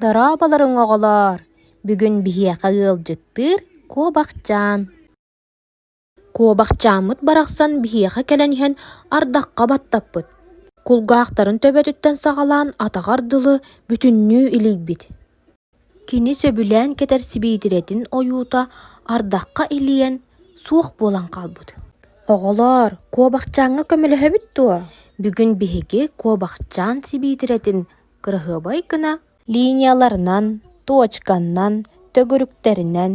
Дорооболоруҥ, оҕолоор! Бүгүн биһиэхэ ыалдьыттыыр Куобахчаан. Куобахчааммыт барахсан биһиэхэ кэлэн иһэн ардахха баттаппыт. Кулгаахтарын төбөтүттэн саҕалаан атаҕар дылы бүтүннүү илийбит. Кини сөбүлээн кэтэр сибиитирэтин ойуута ардахха илийэн суох буолан хаалбыт. Оҕолоор, Куобахчааҥҥа көмөлөһөбүт дуо? Бүгүн биһиги Куобахчаан сибиитирэтин кыраһыабай гына линияларынан, туочканнан, төгүрүктэринэн,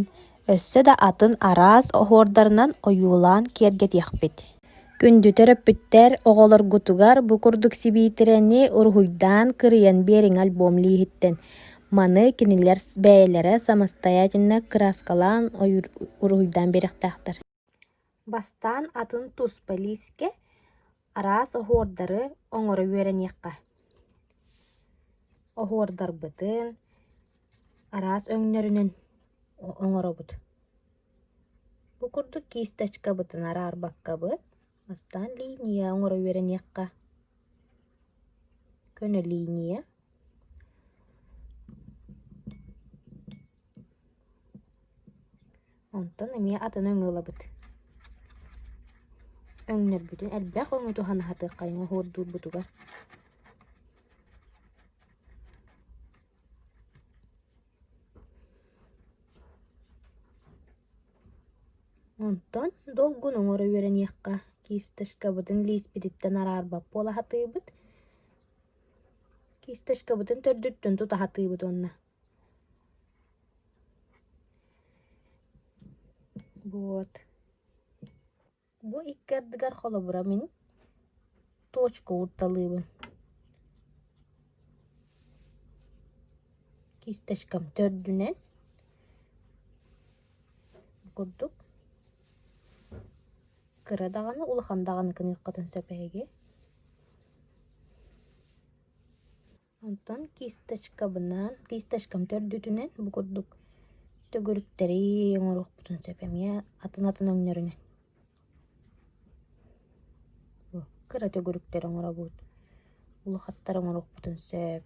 өссө да атын араас оһуордарынан ойуулаан киэргэтиэхпит. Күндү төрөппүттэр оҕолоргутугар бу курдук сибиитирэни уруһуйдаан кырыйан биэриҥ альбом лииһиттэн. Маны кинилэр бэйэлэрэ самостоятельно краскалаан уруһуйдаан биэриэхтээхтэр. Бастаан атын туспа лиискэ, араас оһуордары оҥоро үөрэниэххэ. Оһуордарбытын араас өҥнөрүнэн оҥоробут. Бу курдук кисточкабытын араарбаккабыт Бастаан линия оҥоро үөрэниэххэ. Көнө линия. Онтон эмиэ атыны өҥө ылабыт. Өҥнөрбүтүн элбэх өҥү туһан аһатыаххайыҥ оһуордуурбутугар. Онтон долгун оҥоро үөрэниэххэ, кисточкабытын лииспититтэн араарбаппы оло сатыыбыт, кисточкабытын төрдүттэн тута сатыыбыт уонна вот Бу икки ардыгар холобура мин туочка уурталыыбын. Кисточкам төрдүнэн курдук кыра даҕаны улахан даҕаны гыныаххытын сөп эһиги Онтон кисточкабынан, кисточкам төрдүтүнэн бу курдук төгүрүктэри оҥоруохпутун сөп эмиэ атын-атын өҥнөрүнэн. Кыра төгүрүктэри оҥоробут, улахаттары оҥоруохпутун сөп.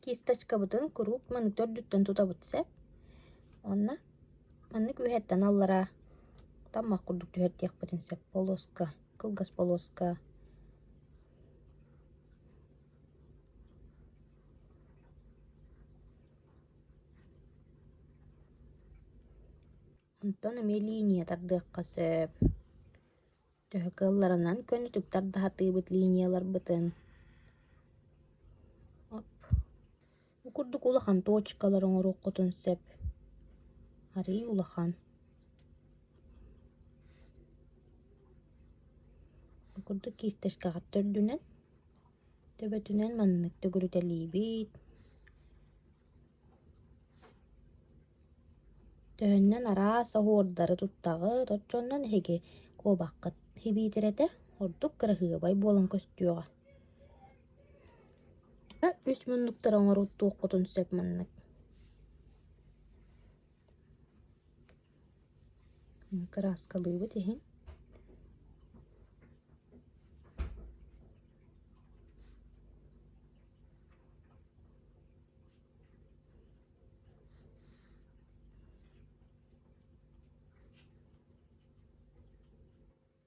Кисточкабытын куруук маны төрдүттэн тутабыт сөп. Онно маннык үөһэттэн аллараа таммах курдук түһэрдиэхпитин сөп. Полоска, кылгас полоска. Онтон эмиэ линия тардыахха сөп. Төһө кыалларынан көнөтүк тардаһытыыбыт линияларбытын. Бу курдук улахан точкалары оҥоруоххутун сөп. Арыый улахан. Бу курдук киистэшкэҕэ төрдүнэн, төбөтүнэн маннык төгүрүтэлиибит. Төһөннөн араас оһуордары туттаҕыт, оччонон эһиги куобаххыт һибиитирэтэ ордук кыраһыабай буолан көстүөҕэ. үс муннуктары оҥоруу туоххутун сөп маннык Кырааскалыыбыт иһин